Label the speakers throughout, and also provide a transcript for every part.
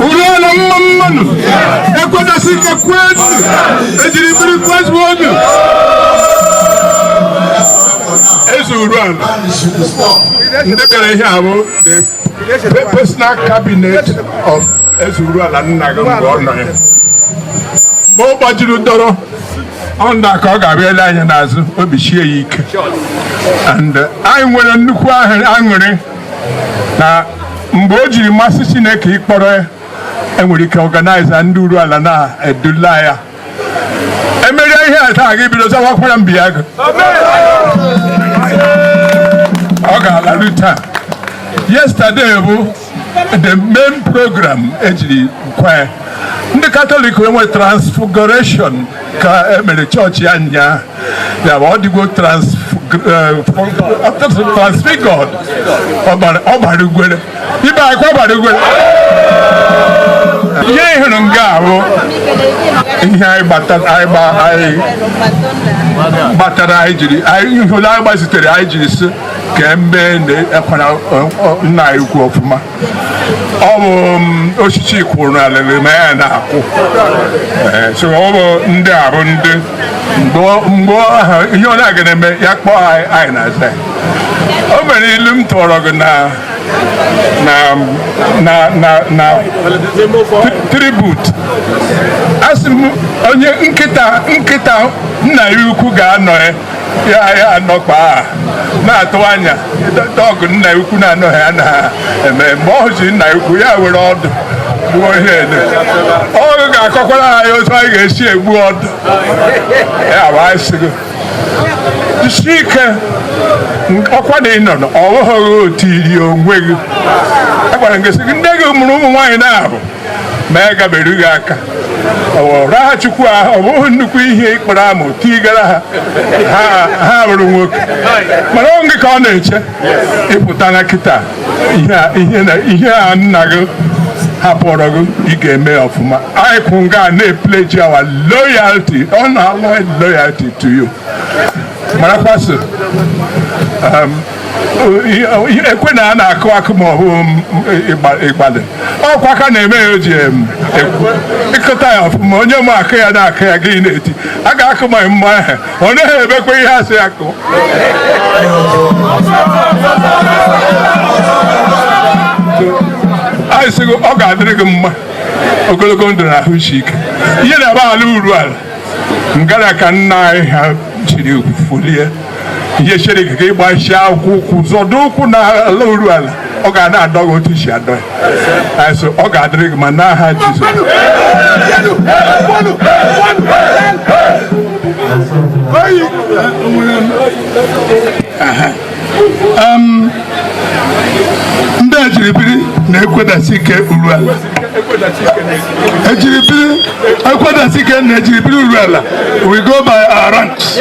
Speaker 1: Uruala mma mma nụ ekwedasị ike kwezu ejiri biri kwezuonụ eze uruala ndị bịara ihe a bụ the personal cabinet of eze uruala nna gị mgbe ọ nọ ya mgbe ọ gbajiri dọrọ ọnda ka ọ ga-abịa ele anya n'azụ obi sie ya ike and uh, anyị nwere nnukwu ahụ- aṅụrị na mgbe o jiri masị chineke ịkpọrọ ya enwere ike organize ndị uruala na-edula ya emerie ihe a taa gị bido zawakwara mbi ya gị ọ ga-alaru taa yesterday bụ the main program ejiri kwee ndị katọlik enwe transfiguration ka emere chọọchị ya nya ya bụ ọ dịgo transfigured ọ gbara ugwere ibe akwa gbara ugwere ihe ịhụrụ nga ahụ ihe anyị gbatara anyị jiri ihe ole anyị gbazitere anyị jiri si kemgbe na-ekwara nna anyị ukwu ọfụma ọ bụ osisi kwụrụ na alịrị na ya na-akwụ so ọ bụ ndị a bụ ndị mgbe ahụ ihe onye a ga na-eme ya kpọọ anyị na-aza o nwere ilu m tụrụ gị na na na na na tribute asị m onye nkịta nkịta nna ya ukwu ga-anọ ya ya ya anọkwa na-atụ anya ọgụ nna ya ukwu na-anọghị ya na-eme mgbe ọ hụzi nna ya ukwu ya were ọdụ gbuo ihe ede ọgụ ga-akọkwara anyị otu anyị ga-esi egbu ọdụ ya bụ anyị sị gị jisi ike ọkwa na ịnọ na ọ bụghị otu i ri onwe gị agwara gị sị gị nne gị mụrụ ụmụ nwaanyị naabọ ma ya gaberughị aka raha chukwu ahụ ọ bụghị nnukwu ihe ịkpọrọ amụ tigara ha ha- ha bụrụ nwoke mana ọ gị ka ọ na-eche ịpụta na kịta ihe a- ihe na- ihe a nna gị hapụrụ gị ị ga-eme ọfụma anyị kwụ nga na-epleji our loyalty unalloyed loyalty to you marakwa sị ekwe na a na-akụ akụ ma ọ bụ ịgbalị ọkwa aka na-eme ya eji akụta ya ọfụma onye ma akụ ya na-akụ ya gị na-eti a ga-akụ ma mma ahụ ọ naghị emekwa ihe asị ya kụọ anyị sị gị ọ ga-adịrị gị mma ogologo ndụ na ahụ isi ike ihe na-aba ala uruala ngara ka nna anyị ha chiri folie ihe chere gị ka ịgbachi akpụkpọ ụkwụ zọdụ ụkwụ na ala Uruala ọ ga na-adọ gị otu i si adọ ya so ọ ga-adịrị gị mma n'aha Jizọs Thank you. ndị ejiribiri na-ekwedasi ike Uruala ejiribiri ekwedasi ike na ejiribiri Uruala we go by our ranks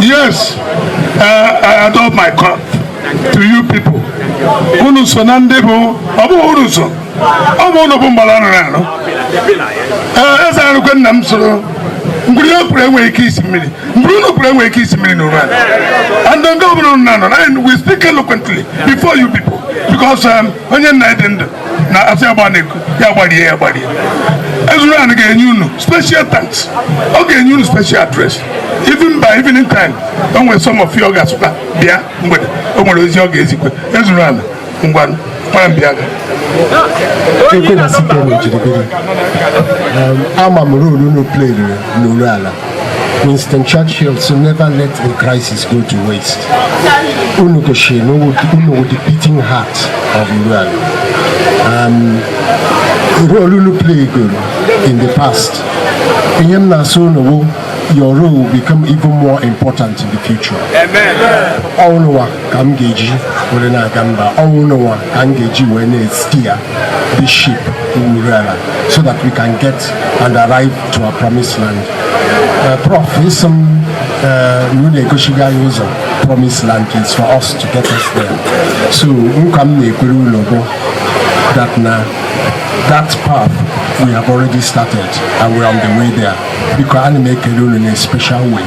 Speaker 1: yes uh, I doff my cap to you people unu so na ndị bụ ọ bụghị unu so ọ bụ unu bụ mgbara anụ na anụ ee eze arụkwe nna m soro mkpụrụ ihe kwuru enweghị ike isi mmiri mgbe unu kwuru enwere ike isi mmiri na ụra and ndị ọbụla unu na-anọ and we speak eloquently before you people because um, onye nna dị ndụ na asị agba na-ekwu ya gbarie ya gbarie eze Uruala ga-enye unu special thanks ọ ga-enye unu special address even by evening time o nwere some of you ọ ga-asịkwa bịa mgbede o nwere ozi ọ ga-ezikwe eze Uruala ngwa kpara m bịa ekwe na site na ejiribiri ama m role unu playere n'Uruala Winston Churchill sị never let a crisis go to waste unu goshie na unu wụ the beating heart of Uruala um, role unu playgoro in the past ihe m na-asị unu wụ your role will become even more important in the future. Amen. All ka m ga-eji were na-aga mba ọnwụ n'ụwa ka m ga-eji wee na-esteer this ship wụ Uruala so that we can get and arrive to our promised land uh, prof ị sị m na unu egosigo anyị ụzọ promised land is for us to get us there so nkwa m na-ekwere unu bụ that na that path we have already started and we are on the way there because ana m ekele unu in a special way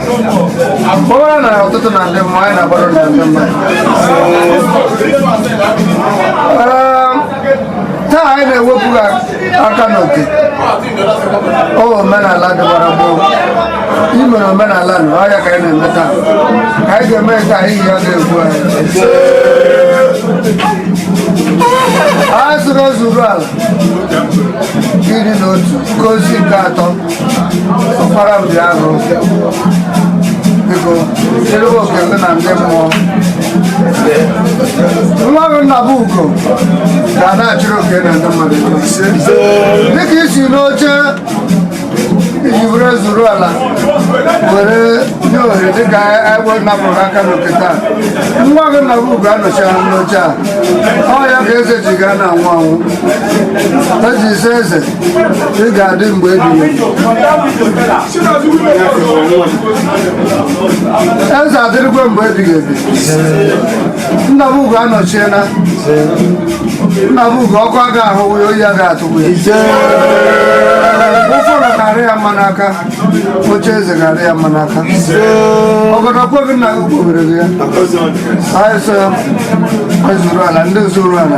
Speaker 1: Bora na ya ọtụtụ na ndị mma anyị na-agbara na ndị mma taa anyị na-ewepụ aka n'oke ọ omenala dịbara gboo imere omenala na ọhịa ka anyị na-eme taa ka anyị ga-eme ka anyị ya ga-egbu anyị a sịrị eze Uruala iri na otu nke ozi nke atọ ọkpara m dị arụ biko chelebe oke ndị na ndị mmụọ nwa gị Nnabụugo ga na-achịrị oke na ndị mmadụ ise dịka isi n'oche iji were eze Uruala were nye ohere dịka egbe napụrụ aka n'oke taa nwa gị Nnabụugo anọchie n'oche a ọ ya ka eze ji gaa na anwụ anwụ eji ise eze ị ga-adị mgbe ebighị eze adịrịkwe mgbe ebighị ebi nna m ugo anọchiela nna m ugo ọkụ aga ahụ ya oyi aga atụgbu ya ụfọdụ karị ya mma n'aka oche eze karị ya mma n'aka obodo kweghị nna gị kpobere gị ya anyị so eze Uruala ndị eze Uruala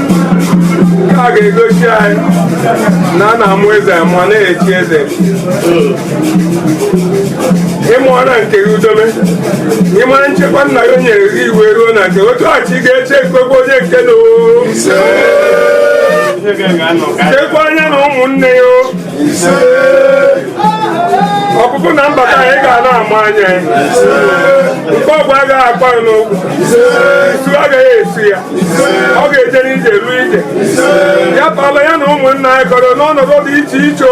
Speaker 1: a ga-egosi anyị na a na-amụ eze amụ a na-echi eze ịmụọra nke gị udobe ịmara nchekwa nna gị o nyere gị iwe ruo na nke otu ọchị ga-eche ekwekwe onye nke na o chekwa anya na ụmụnne ya o ọpụpụ na mbata anyị ga na-ama anya nke ogwu agaghị akpa ya n'ụkwụ isu agaghị esu ya ọ ga-eje n'ije ruo ije ya pala ya na ụmụnna anyị kọrọ n'ọnọdụ dị iche iche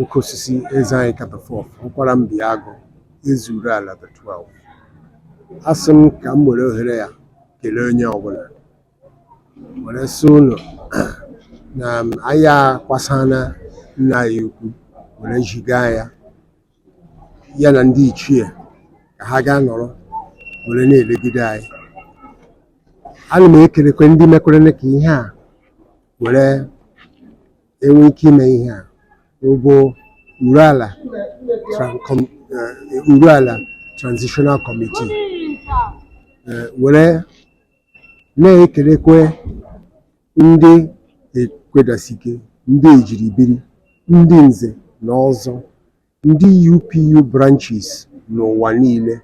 Speaker 1: Oke osisi eze anyị katafọf Ọkwara mbi agụ Eze Uruala the 12 a sị m ka m were ohere ya kelee onye ọbụla were sị ụlọ na anyị akwasana nna anyị ukwu were ziga ya ya na ndị ichie ka ha gaa nọrọ were na-elegide anyị ana m ekelekwe ndị mekwere ka ihe a were enwe ike ime ihe a ọ bụ Uruala tran- com- eh, Uruala transitional committee eh, were na-ekelekwe ndị ekwedasike ndị e ji biri ndị nze na ọzọ Ndị UPU branches n'ụwa niile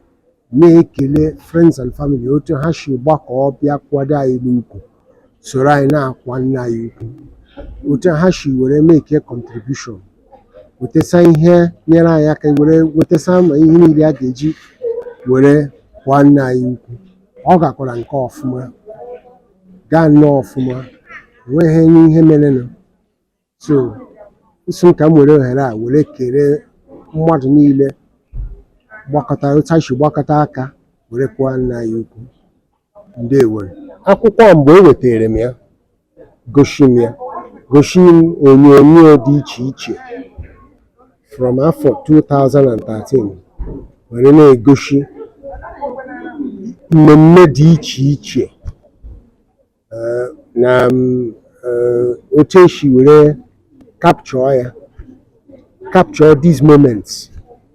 Speaker 1: na-ekele Friends and Family otu ha si gbakọọ bịa kwado anyị n'ukwu soro anyị na-akwa nna anyị ukwu otu ha si were make contribution wetesa ihe nyere anyị aka were wetesa ma ihe niile a ga-eji were kwa nna anyị ukwu ọ gakwara nke ọfụma gaa nnọọ ọfụma enweghị ihe merenụ so a sị m ka m were ohere a were kele mmadụ niile gbakọta otu anyị si gbakọta aka were kwaa nna anyị ukwu ndewo akwụkwọ a mgbe e wetara m ya gosi m ya gosi m onyonyo dị iche iche from afọ 2013 were na-egosi mmemme dị iche iche eh, na mm, eh, otu esi were capture ya capture these moments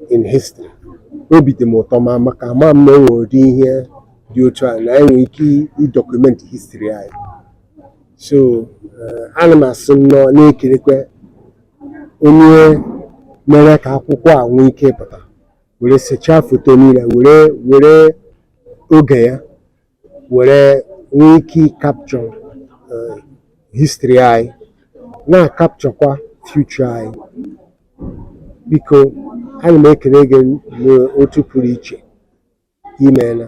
Speaker 1: in history obi dị m ụtọ ma maka ama m na o nwere ụdị ihe dị otu a na enwere ike ịdocument history anyị so eh, ana m asị nnọọ na-ekelekwa onye mere ka akwụkwọ a nwee ike ịpụta were sechaa foto niile were were oge ya were nwee ike ịcapture eh, history anyị na-acapturekwa future anyị biko ana m ekele gị n'otu pụrụ iche imeela